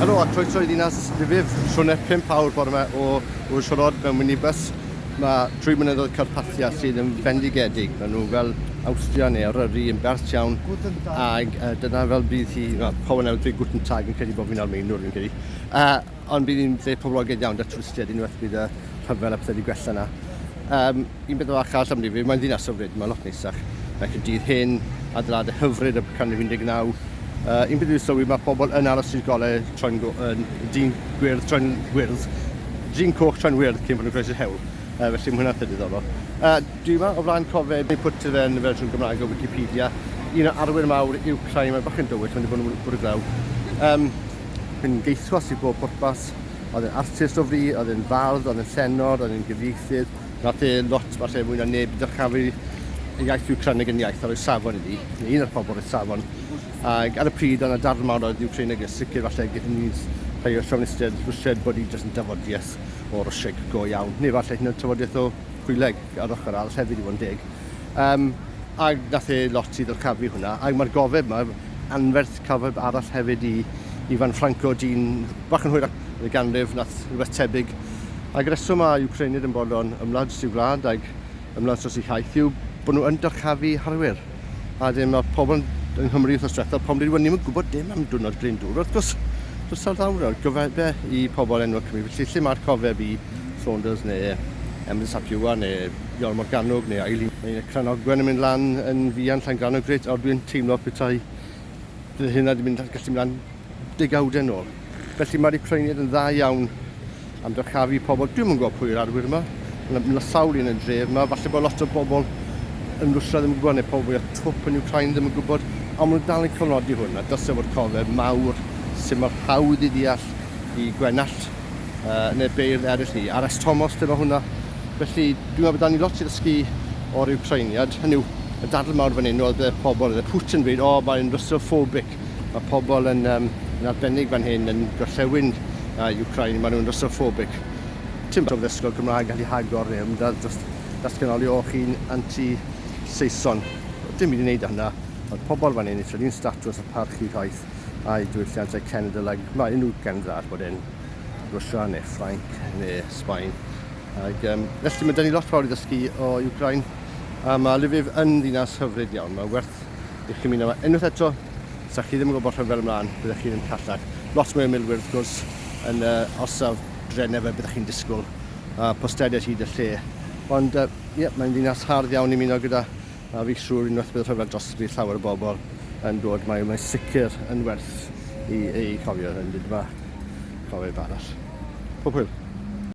Helo a croeso i ddinas Lviv, siwrne 5 awr bore yma o Wyshorod mewn minibus. Mae trwy mynyddoedd Carpathia sydd yn fendigedig, maen nhw fel Awstria neu Eryri yn bert iawn, ac uh, dyna fel bydd hi, well, Power Now, dweud Guten Tag yn credu bod fi'n Almeinwr fi'n credu. Uh, Ond bydd hi'n lle poblogaidd iawn 'da twristiaid unwaith bydd y rhyfel a pethau wedi gwella 'na. Yym, un peth fach arall am Ddifrif, mae'n ddinas hyfryd, mae'n lot neisach na Caerdydd hen, adeiladau hyfryd o'r canrif 19. Yy, un peth i'w sylwi, mae pobl yn aros i'r golau troi'n dyn gwyrdd troi'n wyrdd, dyn coch troi'n wyrdd cyn bod nhw'n croesi'r hewl, yy, felly mae hwnna'n peth diddorol. Yy, dwi yma o flaen cofeb neu pwt sydd yn y fersiwn Gymraeg o Wikipedia. Un o arwyr mawr yw Craig Mae bachgen dywyll wedi bod yn bwrw glaw. Yym. yn geithwas i bob pwrpas. Oedd yn artist o fri, oedd yn fardd, oedd yn llenor, oedd yn gyfieithydd. Nath e lot, falle mwy na neb, i ddyrchafu y iaith Wcraneg yn iaith a roi safon iddi, neu un o'r pobl roedd safon. Ac ar y pryd, oedd na darn mawr oedd Wcraneg yn sicr, falle gyda ni rhai o siofnistiaid Rwsiaid bod hi jyst yn dafodiaeth o Rwsieg go iawn, neu falle hyn yn tafodiaeth o Pwyleg ar ochr arall hefyd i fod yn deg. Um, ac nath e lot i ddyrchafu hwnna, ac mae'r gofeb yma anferth Cyfrif arall hefyd i Ifan Franco, dyn bach yn hwyrach yn y ganrif, wnaeth rhywbeth tebyg. Ac y rheswm mae Wcreinid yn bod o'n ymladd dros ei wlad ac ymladd dros ei hiaith yw bod nhw yn dyrchafu harwyr. A wedyn mae pobl yng Nghymru wythnos diwethaf, pobl yn dweud, wel ni'm yn gwybod dim am diwrnod Glyndŵr. Wrth gwrs, does ta'r ddawr nawr, gofebe i pobl enwog Cymru. Felly lle mae'r cofeb i Saunders neu Emrys ap Iwan neu Iorwerth Morgannwg neu Eileen? Mae Cranogwen yn mynd lan yn fuan, Llangrannog, grêt, ond dwi'n teimlo petai Bydd hynna wedi mynd gallu mynd am degawdau yn ôl. Felly mae'r Ukrainiaid yn dda iawn am dyrchafu pobl. Dwi'n yn gwybod pwy yw'r arwyr yma. Mae'n sawl un yn dref yma. Falle bod lot o bobl yn Rwsia ddim yn gwybod, neu pobl fwy o twp yn Ukraine ddim yn gwybod, ond maen nhw dal yn cofnodi hwn, a dylse fod cofeb mawr sy'n marhawdd i ddeall i gwenallt uh, neu beirdd eraill ni. RS Tomos, dyma hwnna. Felly, dwi'n meddwl bod dan ni lot i ddysgu o'r Ukrainiad. Hynny yw, y dadl mawr fan hyn oedd y pobl, oedd y Putin yn dweud, o, oh, mae'n Russophobic. Mae pobl yn, um, yn arbennig fan hyn yn gorllewin uh, Ukraine, maen nhw'n Russophobic. Ti'n bod ddysgol Cymraeg gallu hagor neu ymdad dros datganoli o chi'n anti-Saeson. Dim byd i wneud â hynna, ond pobl fan hyn eisiau un statws a parchu rhaith. a'i diwylliannau cenedl ac mae unrhyw gendda bod e'n Rwsia neu Ffrainc neu Sbaen. Ac, um, felly mae dyn ni lot fawr i ddysgu o Ukraine a mae Lviv yn ddinas hyfryd iawn. Mae werth i chi mynd yma unwaith eto. Sa chi ddim yn gwybod rhyfel ymlaen, byddwch chi'n callach. Lot mwy o milwyr wrth gwrs yn uh, orsaf drenau fe byddwch chi'n disgwyl a postediad hyd y lle. Ond uh, yeah, mae'n ddinas hardd iawn i muno gyda A fi siwr unwaith bydd y rhyfel drosto bydd llawer o bobl yn dod mae mae'n sicr yn werth i ei chofio yn dyd yma. Cofio i ba arall. Pob hwyl.